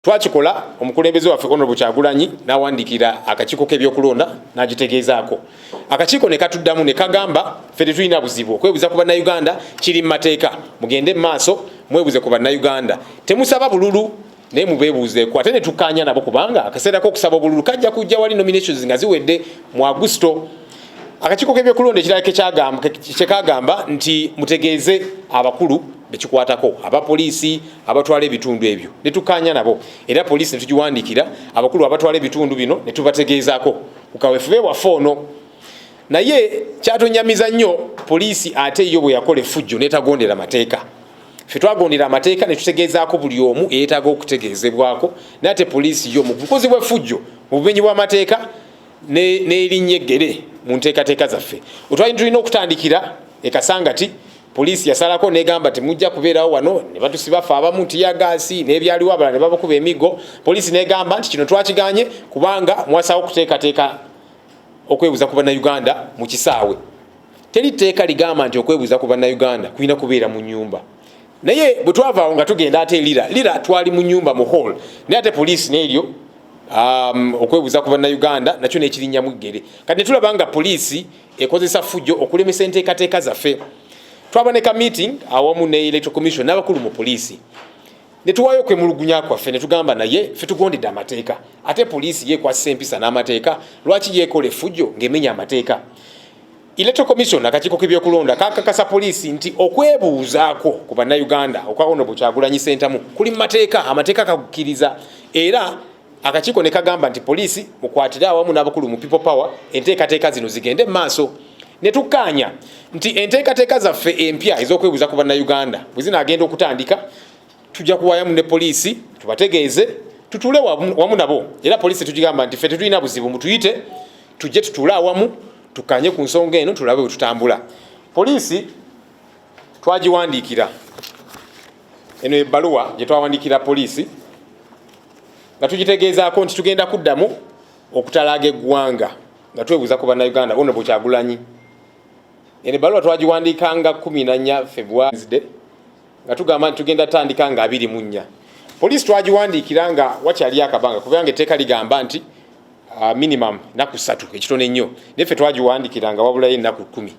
twakikola omukulembeze waffe honorable kyagulanyi nawandikira akakiiko kebyokulonda nagitegeezaako akakiiko nekatuddamu nekagamba fe tetulina buzibu okwebuza ku bannauganda kiri mu mateeka mugende mu maaso mwebuze ku bannauganda temusaba bululu naye mubebuuzeeko ate netukkaanya nabo kubanga akaseera kokusaba obululu kajja kujja wali nominations nga ziwedde mu agusto akakiiko kebyokulonda ekirala kyekagamba nti mutegeeze abakulu bekikwatako abapoliisi abatwala ebitundu ebyo netukanya nabo era poliisi netugiwandikira abakulu abatwala ebitundu bino netubategeezako kukawefube waffe ono naye kyatunyamiza nnyo poliisi ate yo bweyakola efujjo netagondera mateeka fe twagondera amateeka netutegeezaako buli omu eyetaaga okutegeezebwako naye ate poliisi yo mu bukozi bwefujjo mu bumenyi bwamateeka n'erinnya eggere mu nteekateeka zaffe otwali tulina okutandikira ekasangati Poliisi yasalako negamba nti mujja kubeerawo wano ne batusiba ffe abamu nti yagaasi n'ebyaliwo abala ne babakuba emigo. Poliisi negamba nti kino twakiganye kubanga mwasawo okuteekateeka okwebuza ku bannayuganda mu kisaawe. Teri tteeka ligamba nti okwebuza ku bannayuganda kulina kubeera mu nyumba. Naye bwe twavaawo nga tugenda ate lira lira twali mu nyumba mu hall naye ate poliisi n'eryo um, okwebuza ku bannayuganda nakyo nekirinnyamu ggere kati netulaba nga poliisi ekozesa fujjo okulemesa enteekateeka zaffe twaba ne ka meeting awamu ne electoral commission n'abakulu mu poliisi ne tuwaayo okwemulugunya kwaffe ne tugamba naye fe tugondedde amateeka ate poliisi yeekwasisa empisa n'amateeka lwaki yeekola efujjo ng'emenya amateeka electoral commission akakiiko k'ebyokulonda kakakasa poliisi nti okwebuuzaako ku bannayuganda okwa ono bukyagulanyi sentamu kuli mu mateeka amateeka kakukkiriza era akakiiko ne kagamba nti poliisi mukwatire awamu n'abakulu mu people power enteekateeka zino zigende maaso ne tukkaanya nti enteekateeka zaffe empya ez'okwebuuza ku bannayuganda bwe zinaagenda okutandika tujja kuwayamu ne poliisi tubategeeze tutuule wamu nabo era poliisi tugigamba nti ffe tetulina buzibu mutuyite tujje tutuule awamu tukkaanye ku nsonga eno tulabe bwe tutambula poliisi twagiwandiikira eno ebbaluwa gye twawandikira poliisi nga tugitegeezaako nti tugenda kuddamu okutalaaga eggwanga nga twebuuza ku bannayuganda ono bwekyagulanyi eno ebbaluwa twagiwandiika nga 14 februarisde nga tugamba nti tugenda tandika nga 24 poliisi twagiwandiikira nga wakyali akabanga kubanga etteeka ligamba nti ah, minimum naku satu ekitono ennyo naye ffe twagiwandiikira nga wabulayo ennaku kumi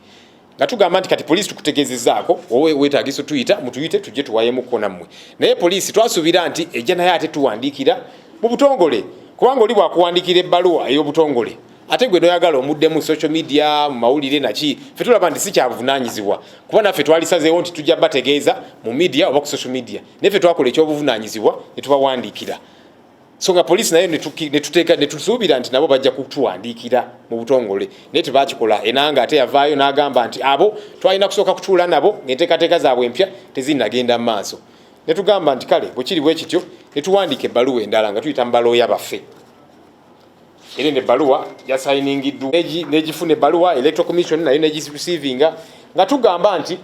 nga tugamba nti kati poliisi tukutegeezezaako wowe weetaagisa otuyita mutuyite tujje tuwayemuko nammwe naye poliisi twasuubira nti ejja naye ate tuwandiikira mu butongole kubanga oli bwakuwandiikira ebbaluwa ey'obutongole ate gwe noyagala omudde mu social media mu mawulire naki fe tulaba nti si kyabuvunanyizibwa kuba naffe twalisazeewo nti tujja bategeeza mu media oba ku social media naye fe twakola ekyobuvunanyizibwa ne tubawandiikira so nga poliisi nayo netuteeka netusuubira nti nabo bajja kutuwandiikira mu butongole naye tebakikola enanga ate yavaayo n'agamba nti abo twalina kusooka kutuula nabo ngaenteekateeka zaabwe empya tezinagenda mu maaso netugamba nti kale bwekiri bwe kityo netuwandiika ebbaluwa endala nga tuyita mu balooya baffe era eno ebbaluwa yasayiningiddwa negifuna ebbaluwa electro commission nayo negirecevinga nga tugamba nti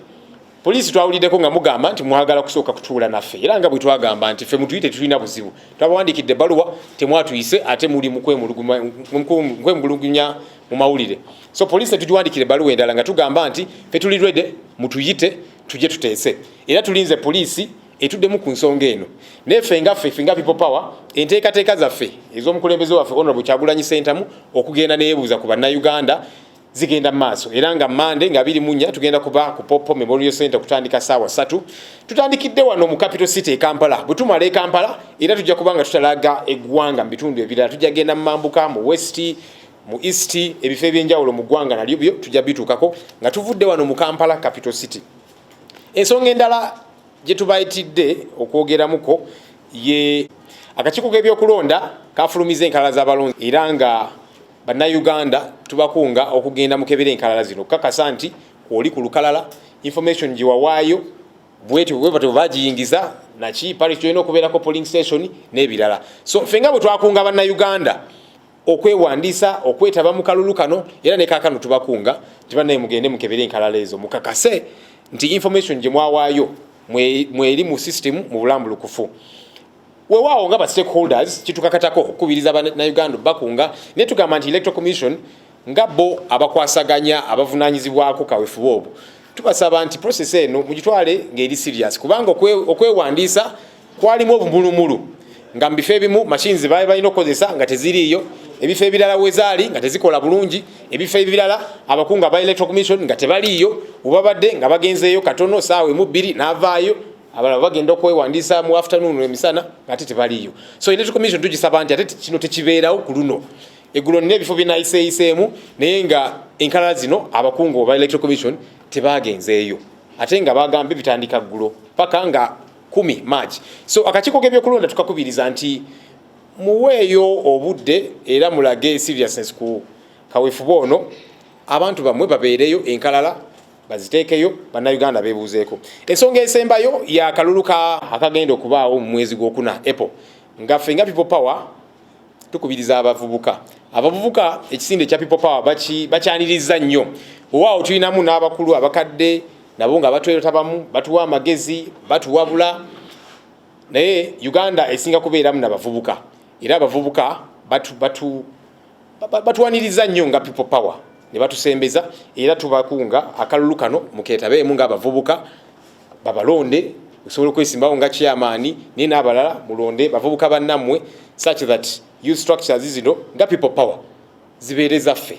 Poliisi twawuliddeko nga mugamba nti mwagala kusooka kutuula naffe era nga bwe twagamba nti ffe mutuyite tetulina buzibu twabawandiikidde ebbaluwa temwatuyise ate muli mukwemulugunya mu mawulire so poliisi netugiwandiikira ebbaluwa endala nga tugamba nti fe tuli rede mutuyite tujje tuteese era tulinze poliisi etuddemu ku nsonga eno naye ffe nga ffe finga people power enteekateeka zaffe ez'omukulembeze waffe honorable kyagulanyi sentamu okugenda neyebuuza ku bannayuganda zigenda maaso era nga mande nga biri munya tugenda kuba ku popo memorial center kutandika saawa satu tutandikidde wano mu capital city e kampala bwe tumala e kampala era tujja kuba nga tutalaga eggwanga mu bitundu ebirala tujja genda mu mambuka mu west mu east ebifo ebyenjawulo mu ggwanga nalyo byo tujja bituukako nga tuvudde wano mu kampala capital city ensonga endala gye tubayitidde okwogeramuko ye akakiiko k'ebyokulonda kafulumiza enkalala z'abalonzi era nga Bannayuganda tubakunga okugenda mu kebera enkalala zino okukakasa nti kwoli ku lukalala information gye wawaayo bwetyo bwebatyo bagiyingiza naki parish tulina okubeerako polling station n'ebirala so ffe nga bwe twakunga bannayuganda okwewandiisa okwetaba mu kalulu kano era ne kaakano tubakunga nti bannaye mugende mukebere enkalala ezo mukakase nti information gye mwawaayo mweri mu system mu bulambulukufu wewaawo nga ba stakeholders kitukakatako okukubiriza banauganda bakunga naye tugamba nti electoral commission nga bo abakwasaganya abavunanyizibwako kawefuba obwo tubasaba nti process eno mugitwale ng'eri serious kubanga okwewandiisa kwalimu obumulumulu nga mu bifo ebimu machines baali balina okukozesa nga teziriiyo ebifo ebirala wezaali nga tezikola bulungi ebifo ebirala abakungu aba electoral commission nga tebaliiyo webabadde nga bagenzeeyo katono saawa emu bbiri n'avaayo abalala bagenda okwewandiisa mu afternoon emisana ate tebaliyo so electoral commission tugisaba nti ate kino tekibeerawo ku luno eggulo nina ebifo byenayiseeyiseemu naye nga enkalala zino abakungu oba electoral commission tebaagenzeeyo ate nga bagambye bitandika ggulo paka nga kumi march so akakiiko k'ebyokulonda tukakubiriza nti muweeyo obudde era mulage seriousness ku kawefube ono abantu bamwe babeereyo enkalala baziteekeyo bannayuganda beebuuzeeko ensonga esembayo ya kalulu ka akagenda okubaawo mu mwezi gwokuna apple nga ffe nga people power tukubiriza abavubuka abavubuka ekisinde ekya people power bakyanirizza nnyo owaawo tulinamu n'abakulu abakadde nabo nga batwerota bamu batuwa amagezi batuwabula naye uganda esinga kubeeramu nabavubuka era abavubuka batu, batu batuwaniriza nnyo nga people power ne batusembeza era tubakunga akalulu kano muketabeemu ng'abavubuka babalonde osobola okwesimbawo nga kyamaani naye n'abalala mulonde bavubuka bannammwe such that youth structures zino nga people power zibeereza ffe